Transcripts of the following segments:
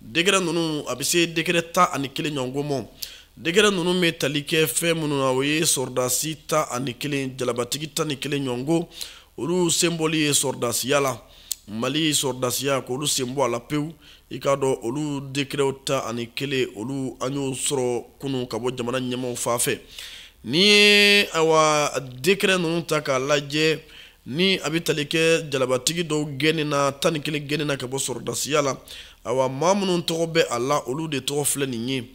décret ninnu a bɛ se décret tan ani kelen ɲɔgɔn ma décret ninnu bɛ tali kɛ fɛn minnu na o ye sɔrɔdasi tan ani kelen jalabatigi tan ni kelen ɲɔgɔn ko olu senbɔli ye sɔrɔdasiya la mali sɔrɔdasiya k'olu sen bɔ a la pewu i k'a dɔn olu décretw tan ani kelen olu an y'o sɔrɔ kunun ka bɔ jamana ɲɛmaaw fan fɛ n'i ye awa décret ninnu ta k'a lajɛ ni a bɛ tali kɛ jalabatigi dɔw gɛnni na tan ni kelen gɛnni na ka bɔ sɔrɔdasiya la awa maa minnu tɔgɔ bɛ a la olu de tɔgɔ filɛ nin ye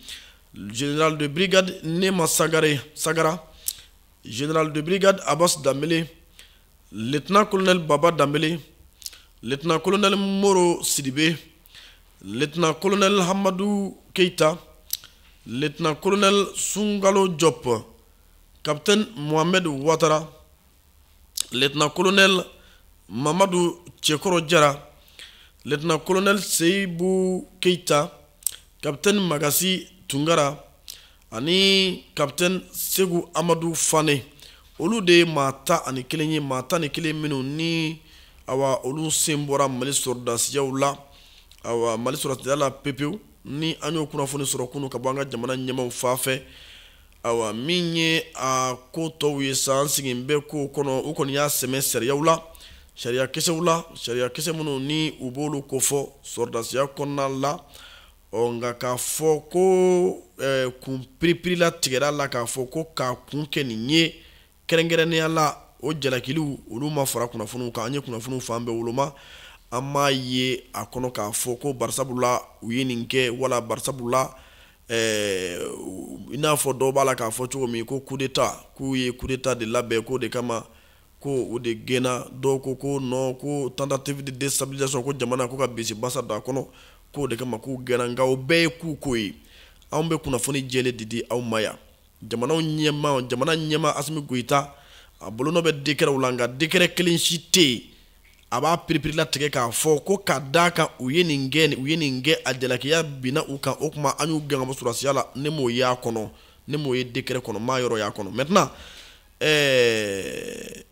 general de brigade nema sagare sagara general de brigade abbas danbele lieutenant colonel baba danbele lieutenant colonel moro sidibe lieutenant colonel hamadu keita lieutenant colonel sungalo jɔp capitaine mohamed watara lieutenant colonel mamadu cɛkɔrɔ jara lieutenant colonel seyibu keita capitaine magasi tungara ani capitaine segu amadu fane olu de ye maa tan ani kelen ye maa tan ni kelen minnu ni awa olu sen bɔra mali sɔrɔdasiyaw la awa mali sɔrɔdasiya la pepewu ni an y'o kunnafoni sɔrɔ kunun ka bɔ an ka jamana ɲɛmaw fan fɛ awa min ye a ko tɔw ye sa an sigin bɛ ko kɔnɔ u kɔni y'a sɛmɛ sariyaw la sariya kisɛw la sariya kisɛ minnu ni u b'olu kofɔ sɔrɔdasiya kɔnɔna la ɔ nka k'a fɔ ko kun piripirilatigɛra a la k'a fɔ ko k'a kun kɛ nin ye kɛrɛnkɛrɛnnenya la o jalakiliw olu ma fara kunnafoniw kan an ye kunnafoniw fan bɛɛ woloma an m'a ye a kɔnɔ k'a fɔ ko barisabula u ye nin kɛ wala barisabula eh, i n'a fɔ dɔw b'a la k'a fɔ cogo min ko kudeta k'u ye kudeta de labɛn k'o de kama ko u de gɛnna dɔw ko ko non ko tentative de destabilisation ko jamana ko ka bisi basa don a kɔnɔ k'o de kama k'u gɛnna nka o bɛɛ ye k'u ko ye anw bɛ kunnafoni jɛlen de di aw ma yan jamanaw ɲɛmaa jamana ɲɛmaa asimi goyita a bolonɔ bɛ décretw la nka décret kelen si tɛ yen a b'a piripirilatigɛ k'a fɔ ko ka d'a kan u ye nin kɛ u ye nin kɛ a jalakiya binna u kan o tuma an y'u gɛn ka bɔ sɔrɔdasiya la ne m'o y'a kɔnɔ ne m'o ye décret kɔnɔ m'a yɔrɔ y'a kɔnɔ maintenant ɛɛ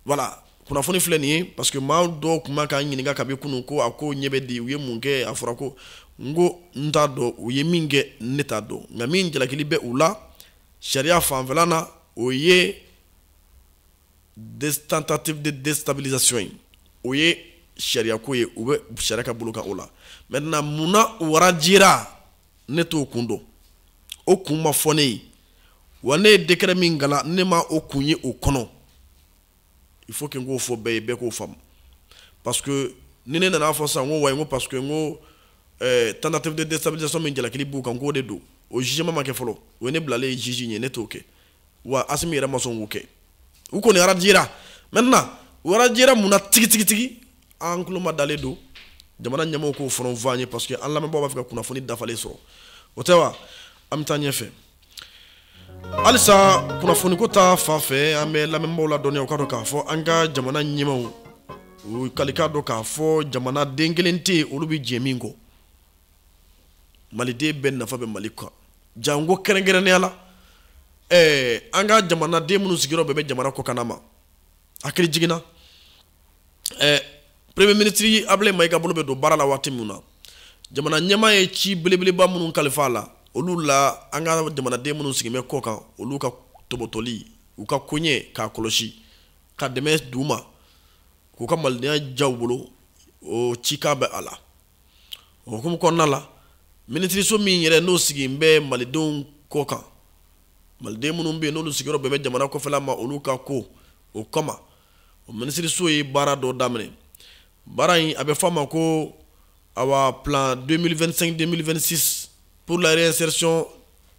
voilà kunnafoni filɛ nin ye parce que maa dɔw tun bɛ ka n ɲininka kabi kunun ko a koɲɛ bɛ di u ye mun kɛ a fɔra ko n ko n t'a dɔn u ye min kɛ ne t'a dɔn nka min jalakili bɛ u la sariya fanfɛla na o ye tentative de déstabilisation ye o ye sariyako ye u bɛ sariya ka bolo kan o la maintenant munna u radiéra ne t'o kun dɔn o kun ma fɔ ne ye wa ne ye décret min kalan ne ma o kun ye o kɔnɔ il faut que n k'o fɔ bɛɛ ye bɛɛ k'o faamu parce que ni ne nana a fɔ sisan n ko wayi n ko parce que n ko eh, tentative de déstabilisation min jalakili b'u kan k'o de don o jugement ma kɛ fɔlɔ o ye ne bilalen ye juge ɲɛ ne t'o kɛ wa asimi yɛrɛ ma sɔn k'o kɛ u kɔni arajira maintenant u arajira mun na tigitigitigi an tulo madalen don jamana ɲɛmaaw k'o fɔlɔ fɔ an ye parce que an lamɛnbaaw b'a fɛ ka kunnafoni dafalen sɔrɔ o tɛ wa an bɛ taa ɲɛfɛ halisa kunnafoniko ta fan fɛ an bɛ lamɛnbaaw ladɔnniya u k'a dɔn k'a fɔ an ka jamana ɲɛmaaw u ka i k'a dɔn k'a fɔ jamanaden kelen tɛ yen olu bɛ jɛ min kɔ maliden bɛɛ nafa bɛ mali kan janko kɛrɛnkɛrɛnnenya la ɛɛ an ka jamanaden minnu sigiyɔrɔ bɛɛ bɛ jamana kɔkanna ma hakilijigin na ɛɛ premier ministre abulayi mayiga bolo bɛ don baara la waati min na jamana ɲɛmaa ye ci belebeleba minnu kalifa a la olu la an ka jamanaden minnu sigin bɛ kɔ kan olu ka tɔbɔtɔli u ka koɲɛ k'a kɔlɔsi ka dɛmɛ d'u ma k'u ka malidenya diya u bolo o cikan bɛ a la o hukumu kɔnɔna la minisiriso min yɛrɛ n'o sigin bɛ malidenw kɔ kan maliden minnu bɛ yen n'olu sigiyɔrɔ bɛɛ bɛ jamana kɔfɛla ma olu ka ko o kama o minisiriso ye baara dɔ daminɛ baara in a bɛ fɔ a ma ko awa plan 2025 2026 Pour la réinsertion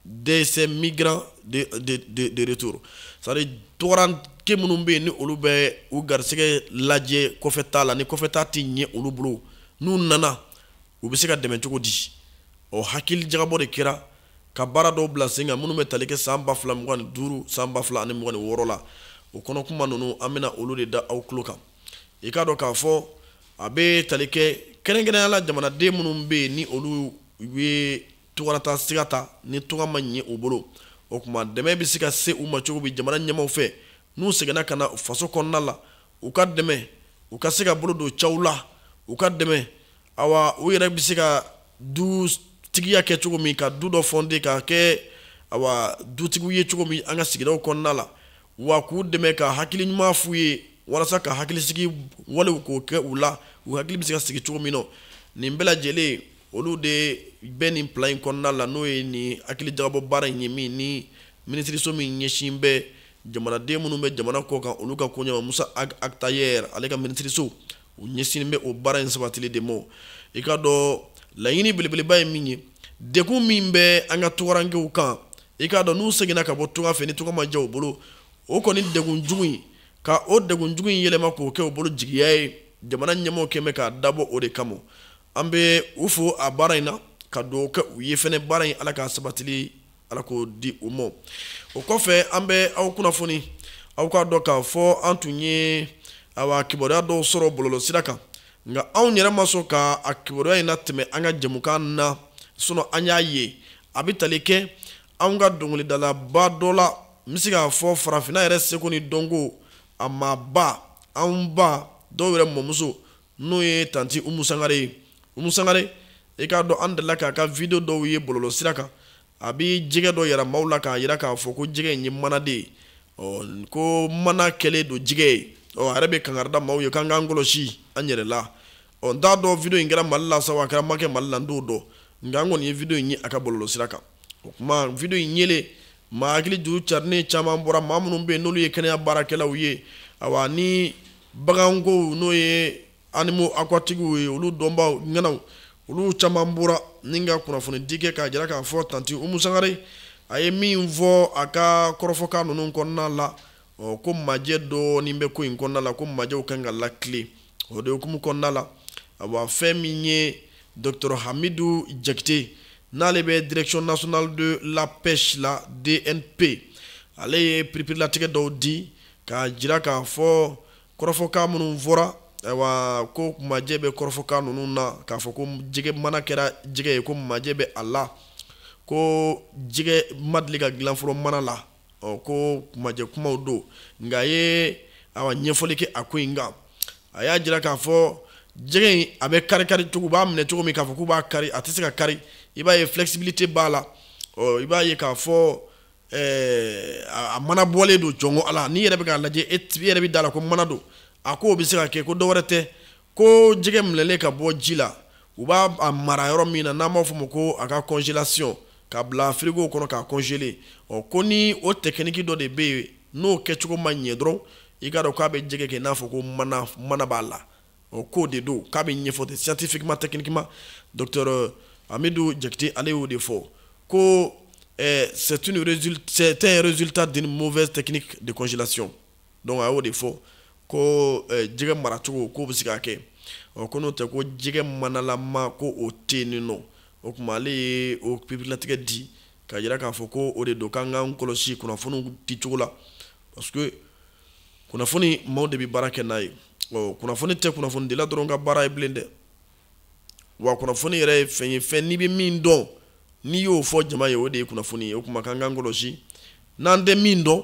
de ces migrants de, de, de, de retour. C'est-à-dire, tungaranke minnu bɛ yen ni olu bɛ u garisɛgɛ lajɛ kɔfɛtaa la ni kɔfɛtaa tɛ ɲɛ olu bolo n'u nana u bɛ se ka dɛmɛ cogo di o hakilijagabɔ de kɛra ka baara dɔw bila sen kan minnu bɛ tali kɛ san ba fila mugan ni duuru san ba fila ani mugan ni wɔɔrɔ la o kɔnɔkuma ninnu an bɛna olu de da aw tulo kan i k'a dɔn k'a fɔ a bɛ tali kɛ kɛrɛnkɛrɛnya la jamanaden minnu bɛ yen ni olu ye tungarataa sira ta ni tunga ma ɲɛ u bolo o tuma dɛmɛ bɛ se ka se u ma cogo bi jamana ɲɛmaaw fɛ n'u seginna ka na faso kɔnɔna la u ka dɛmɛ u ka se ka bolo don ciyaw la u ka dɛmɛ awa u yɛrɛ bɛ se ka dutigiya kɛ cogo min ka du dɔ fonder ka kɛ awa dutigiw ye cogo min an ka sigidaw kɔnɔna la wa k'u dɛmɛ ka hakili ɲuman f'u ye walasa ka hakilisigi walew k'o kɛ u la u hakili bɛ se ka sigi cogo min na nin bɛɛ lajɛlen olu de bɛ nin plan in kɔnɔna la n'o ye nin hakilijagabɔ baara in ye min ni minisiriso min ɲɛsin bɛ jamanaden minnu bɛ jamana kɔ kan olu ka koɲɛ ma musa ag attaher ale ka minisiriso u ɲɛsin bɛ o baara in sabatili de ma i k'a dɔn laɲini belebeleba ye min ye degun min bɛ an ka tungarankew kan i k'a dɔn n'u seginna ka bɔ tunga fɛ ni tunga ma ɲɛ u bolo o kɔni degun jugu in ka o degun jugu in yɛlɛma k'o kɛ u bolo jigiya ye jamana ɲɛmɔgɔ kɛlen bɛ k'a dabɔ o de kama an bɛ u fo a baara in na ka dugawu kɛ u ye fɛnɛ baara in ala ka sabatili ala k'o di u ma o kɔfɛ an bɛ aw kunnafoni aw k'a dɔn k'a fɔ an tun ye awa kibaruya dɔw sɔrɔ bɔlɔlɔsira kan nka anw yɛrɛ ma sɔn ka a kibaruya in latɛmɛ an ka jɛmukan na sinon an y'a ye a bɛ tali kɛ anw ka dɔnkilidalaba dɔ la n bɛ se k'a fɔ farafinna yɛrɛ seko ni dɔnko a maaba anw ba dɔw yɛrɛ mɔmuso n'o ye tanti umu sangare ye umu sangare i k'a dɔn an delila k'a ka video dɔw ye bɔlɔlɔsira kan a bɛ jɛgɛ dɔ yira maaw la k'a yira k'a fɔ ko jɛgɛ in ye mana de ye ɔ ko mana kɛlen don jɛgɛ ye ɔ a yɛrɛ bɛ kankari da maaw ye k'an k'an kɔlɔsi an yɛrɛ la ɔ n t'a dɔn video in kɛra mali la sa wa a kɛra ma kɛ mali la n t'o dɔn nka n kɔni ye video in ye a ka bɔlɔlɔsira kan o kuma video in yelen maa hakili juru carinen caman bɔra maa minnu bɛ yen n'olu ye kɛnɛya baarakɛlaw ye awa ni bagankow n'o ye animaux aquatiques ye olu dɔnbaa ŋanaw olu caman bɔra ni ka kunnafonidi kɛ k'a jira k'a fɔ tanti umu sangare a ye min fɔ a ka kɔrɔfɔkan ninnu kɔnɔna la ɔ ko majɛ dɔɔnin bɛ ko in kɔnɔna la ko majɛw kan ka latilen o de hukumu kɔnɔna la awa fɛn min ye docteur hamidu jakite n'ale bɛ direction nationale de la pêche la dnp ale ye pereperelatigɛ dɔw di k'a jira k'a fɔ kɔrɔfɔkan minnu fɔra ayiwa ko majɛ bɛ kɔrɔfɔkan ninnu na k'a fɔ ko jɛgɛ mana kɛra jɛgɛ ye ko majɛ bɛ a la ko jɛgɛ ma deli ka dilan fɔlɔ mana la ɔ ko kumajɛ kumaw don nka a ye awa ɲɛfɔli kɛ a ko in kan a y'a jira k'a fɔ jɛgɛ in a bɛ kari kari cogo b'a minɛ cogo min k'a fɔ k'u b'a kari a tɛ se ka kari i b'a ye flexibilité b'a la ɔ i b'a ye k'a fɔ ɛɛ eh, a mana bɔlen don jɔnko ala n'i yɛrɛ bɛ k'a lajɛ e yɛrɛ bɛ da a la ko mana don a ko o bɛ se ka kɛ ko dɔ wɛrɛ tɛ ko jɛgɛ minɛlen ka bɔ ji la u b'a a mara yɔrɔ min na n'an b'a fɔ o ma ko a ka congelation ka bila frigo kɔnɔ k'a congeler ɔ ko ni o technique dɔ de bɛ yen n'o kɛcogo ma ɲɛ dɔrɔn i k'a dɔn k'a bɛ jɛgɛ kɛ i n'a fɔ ko mana mana b'a la ɔ k'o de don k'a bɛ ɲɛfɔ ten scientifiquement techniquement docteur Hamidu Jakite ale y'o de fɔ ko c'est une résultat c'est un résultat d'une mauvaise technique de congelation donc a y'o de fɔ ko eh, jɛgɛ maracogo k'o bɛ se ka kɛ ɔ ko n'o tɛ ko jɛgɛ manalama ko o tɛ yen non o tuma ale ye o pereperelatigɛ di k'a jira k'a fɔ ko o de don k'an k'an kɔlɔsi kunnafoniw di cogo la parce que kunnafoni maaw de bɛ baara kɛ n'a ye ɔ kunnafoni tɛ kunnafonidila dɔrɔn ka baara ye bilen dɛ wa kunnafoni yɛrɛ ye fɛn ye fɛn n'i bɛ min dɔn n'i y'o fɔ jama ye o de ye kunnafoni ye o tuma k'an k'an kɔlɔsi n'an tɛ min dɔn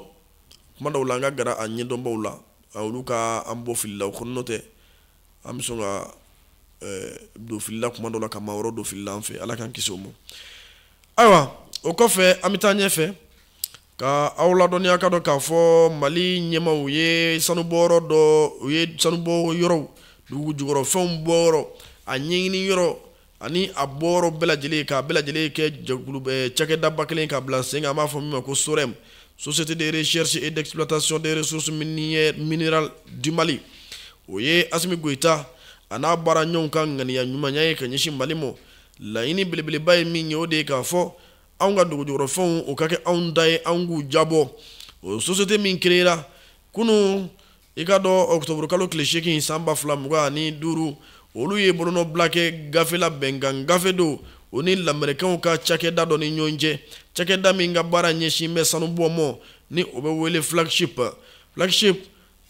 kuma dɔw la an ka gara a ɲɛdɔnbaw la olu ka an bɔ fili la o kɔnɔ n'o tɛ an bɛ sɔn ka don fili la kuma dɔw la ka maa wɛrɛ don fili la an fɛ ala k'an kisi o ma ayiwa o kɔfɛ an bɛ taa ɲɛfɛ ka aw ladɔnniya ka dɔn k'a fɔ mali ɲɛmaaw ye sanubɔyɔrɔ dɔ u ye sanubɔ yɔrɔw dugu jukɔrɔfɛnw bɔ yɔrɔ a ɲɛɲini yɔrɔ ani a bɔyɔrɔ bɛɛ lajɛlen k'a bɛɛ lajɛlen kɛ jɛkulu eh, cakɛdaba kelen ka bila sen kan an b'a fɔ min ma ko sorem société de recherche et d'exploitation des ressources minérales du mali o ye asimi goyita a n'a baara ɲɔgɔnw ka ŋaniya ɲumanya ye ka ɲɛsin mali ma laɲini belebeleba ye min ye o de ye k'a fɔ anw ka dugujukɔrɔfɛnw o ka kɛ anw ta ye anw k'u diyabɔ o société min kereyera kunu i ka dɔn ɔkutɔburukalo tile seegin san ba fila mugan ni duuru olu ye bolonɔbila kɛ gafe la bɛnkan gafe don o ni lamɛrikɛnw ka cakɛda dɔ ni ɲɔgɔn cɛ cakɛda min ka baara ɲɛsin bɛ sanu bɔ ma ni o bɛ wele flagship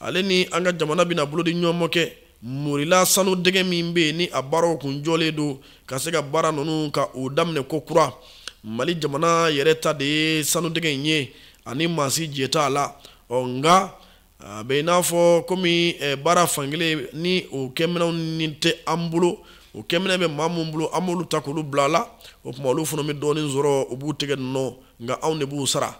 ale ni an ka jamana bɛna bolo di ɲɔgɔn ma kɛ morila sanu dingɛ min bɛ yen ni a baaraw kun jɔlen don ka se ka baara ninnu ka o daminɛ kokura mali jamana yɛrɛ ta de ye sanu dingɛ in ye an ni maa si jɛ t'a la ɔ nka a bɛ i n'a fɔ komi eh, baara fankelen ni o kɛminɛnw ni tɛ an bolo o kɛminɛn bɛ maa minnu bolo an b'olu ta k'olu bila a la o tuma olu fana bɛ dɔɔnin sɔrɔ u b'u tɛgɛ nɔ nka anw de b'u sara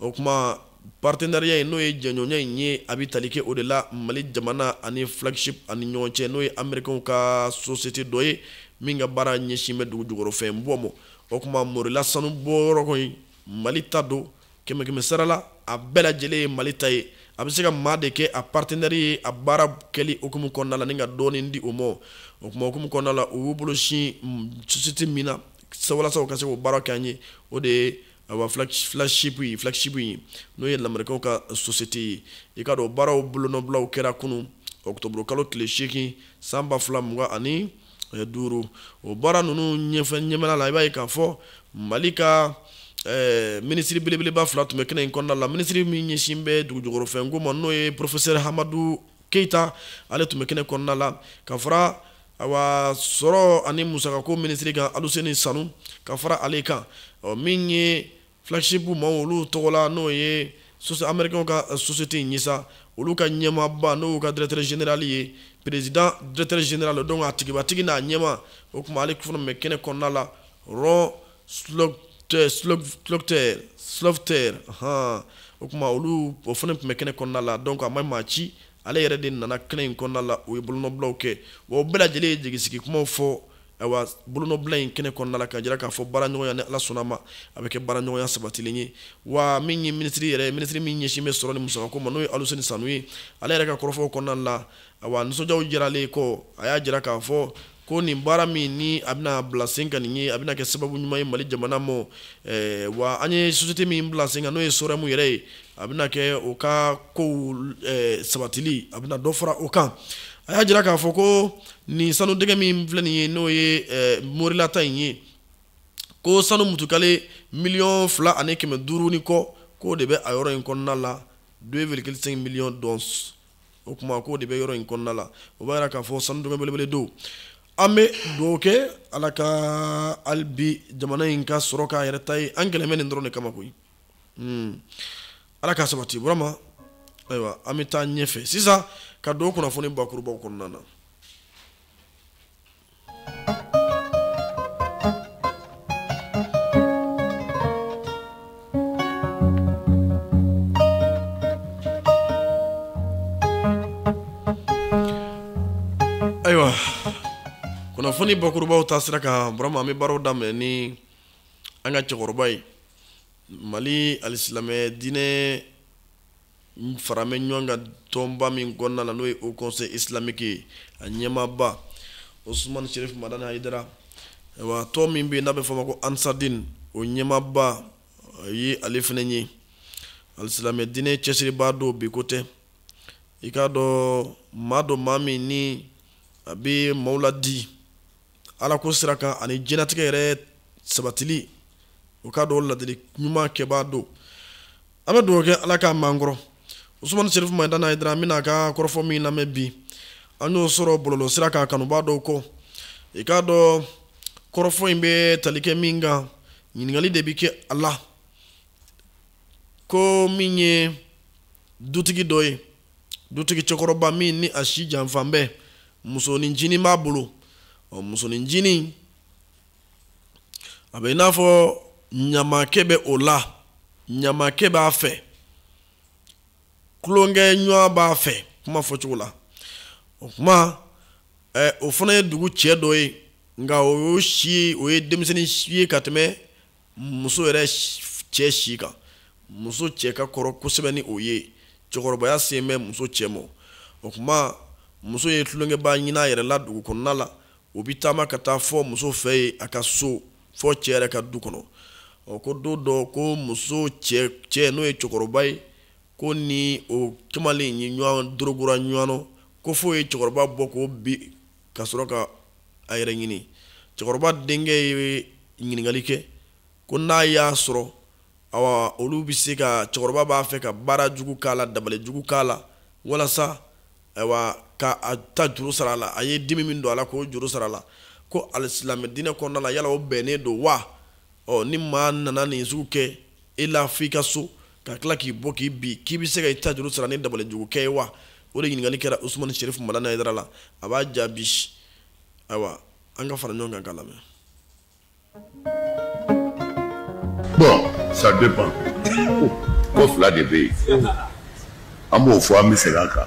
o tuma partenariat in n'o ye jɛɲɔgɔnya in ye a bɛ tali kɛ o de la mali jamana ani flagship ani ɲɔgɔn cɛ n'o ye amerikɛnw ka société dɔ ye min ka baara ɲɛsin bɛ dugu jukɔrɔfɛn bɔ ma o tuma morila sanu bɔyɔrɔ kɔni mali ta don kɛmɛkɛmɛ sara la a bɛɛ lajɛlen ye mali ta ye a bɛ se ka maa de kɛ a partenɛri ye a baara kɛli hukumu kɔnɔna la ni ka dɔɔnin di o ma o kuma hukumu kɔnɔna la u y'u bolo sin société min na walasa u ka se k'o baara kɛ an ye o de ye awa flagship ye n'o ye lamɛrikɛnw ka société ye i ka dɔn baaraw bolonɔbilaw kɛra kunu octobre kalo tile 8 san ba fila mugan ani eh, duuru o baara ninnu ɲɛfɛ ɲɛmɛla la i b'a ye k'a fɔ mali ka eh, minisiri belebeleba fila tun bɛ kɛnɛ in kɔnɔna la minisiri min ɲɛsin bɛ dugujukɔrɔfɛnko ma n'o ye porofesɛri hamadu keyita ale tun bɛ kɛnɛ kɔnɔna la ka fara awa sɔrɔ ani musakako minisiri kan aluseni sanu ka fara ale kan ɔ min ye flagship maaw olu tɔgɔ la n'o ye américain ka euh, société in ye sa olu ka ɲɛmaaba n'o ka directeur général ye président directeur général donc a tigibatigi n'a ɲɛmaa o tuma ale fana tun bɛ kɛnɛ kɔnɔna la ron slaughter han o tuma olu o fana tun bɛ kɛnɛ kɔnɔna la donc a ma maa ci ale yɛrɛ de nana kɛnɛ in kɔnɔna la o ye bolonɔbilaw kɛ wa o bɛɛ lajɛlen ye jigisigi kumaw fɔ ayiwa bolonɔbila in kɛnɛ kɔnɔna la k'a jira k'a fɔ baaraɲɔgɔnya ni ala sɔnna ma a bɛ kɛ baaraɲɔgɔnya sabatilen ye wa min ye minisiri yɛrɛ ye minisiri min ɲɛsin bɛ sɔrɔ ni musakako ma n'o ye aluseni sanu ye ale yɛrɛ ka kɔrɔfɔw kɔnɔna la ayiwa nisɔndiyaw jiralen kɔ a y'a jira k'a fɔ ko nin baara min ni a bɛna bila sen kan nin ye a bɛna kɛ sababu ɲuman ye mali jamana ma eh, wa an ye société min bila sen kan n'o ye sorɛmu yɛrɛ ye a bɛna kɛ o ka kow eh, sabatili a bɛna dɔ fara o kan a y'a jira k'a fɔ ko nin sanu dingɛ min filɛ nin ye n'o ye eh, morila ta in ye ko sanu mutukale miliyɔn fila ani kɛmɛ duuru ni kɔ k'o de bɛ a yɔrɔ in kɔnɔna la 2,5 miliyɔn d'onces o kuma k'o de bɛ yɔrɔ in kɔnɔna la o b'a jira k'a fɔ sanu dingɛ belebele don an bɛ dugawu kɛ ala ka hali bi jamana in ka sɔrɔ k'a yɛrɛ ta ye an gɛlɛn bɛ nin dɔrɔn de kama koyi hmm. ala k'a sabati burama ayiwa an bɛ taa ɲɛfɛ sisan ka don kunnafoni bakurubaw kɔnɔna na ayiwa kunnafoni bakurubaw taasira kan burama an bɛ baaraw daminɛ ni an ka cɛkɔrɔba ye mali alisilamɛ diinɛ faralen bɛ ɲɔgɔn kan tɔnba min kɔnɔna na n'o ye haut conseil islamique ye a ɲɛmaaba osumani sherif madani hayidara wa tɔn min bɛ yen n'a bɛ fɔ o ma ko ansadin o ɲɛmaaba ye ale fana ye alisilamɛ diinɛ cɛsiribaa don bi ko tɛ i k'a dɔn maa don maa min ni a bɛ maaw ladi ala ko sira kan ani diɲɛnatigɛ yɛrɛ sabatili o k'a dɔn ladili ɲuman kɛbaa don an bɛ dugawu kɛ ala k'a m'an kɔrɔ usumani serifu madani hayidara an bɛna a ka kɔrɔfɔ min lamɛn bi an y'o sɔrɔ bɔlɔlɔ sira kan kanubaa dɔw kɔ i k'a dɔn kɔrɔfɔ in bɛ tali kɛ min kan ɲininkali de bɛ kɛ a la ko min ye dutigi dɔ ye dutigi cɛkɔrɔba min ni a si janfan bɛ musonin ncinin b'a bolo ɔ musonin ncinin a bɛ i n'a fɔ ɲamakɛ bɛ o la ɲamakɛ b'a fɛ tulonkɛɲɔgɔn b'a fɛ kuma fɔcogo la o kuma ɛ o fana ye dugu cɛ dɔ ye nka o y'o si ye o ye denmisɛnnin si ye ka tɛmɛ muso yɛrɛ cɛ si kan muso cɛ ka kɔrɔ kosɛbɛ ni o ye cɛkɔrɔbaya sen bɛ muso cɛ ma o kuma muso ye tulonkɛbaa ɲini a yɛrɛ la dugu kɔnɔna la o bɛ taama ka taa fo muso fɛ yen a ka so fo cɛ yɛrɛ ka du kɔnɔ ɔ ko don dɔ ko muso cɛ n'o ye cɛkɔrɔba ye ko ni o kamalen ye ɲɔgɔn dorogora ɲɔgɔn ko f'o ye cɛkɔrɔba bugɔ ko bi ka sɔrɔ ka a yɛrɛ ɲini cɛkɔrɔba denkɛ ye ɲininkali kɛ ko n'a y'a sɔrɔ awa olu bɛ se ka cɛkɔrɔba b'a fɛ ka baara jugu k'a la dabali jugu k'a la walasa ayiwa ka a ta juru sara a la a ye dimi min don a la k'o juru sara a la ko alisilamɛ diinɛ kɔnɔna la yala o bɛnnen don wa ɔ ni maa nana nin sugu kɛ e la fo i ka so ka tila k'i bɔ k'i bin k'i bɛ se ka i ta juru sara ni dabali jugu kɛ ye wa o de ɲininkali kɛra usumani sherifu madani hayidara la a b'a jaabi ayiwa an ka fara ɲɔgɔn kan k'a lamɛn bon ça dépend ko fila de bɛ yen an b'o fɔ an bɛ segin a kan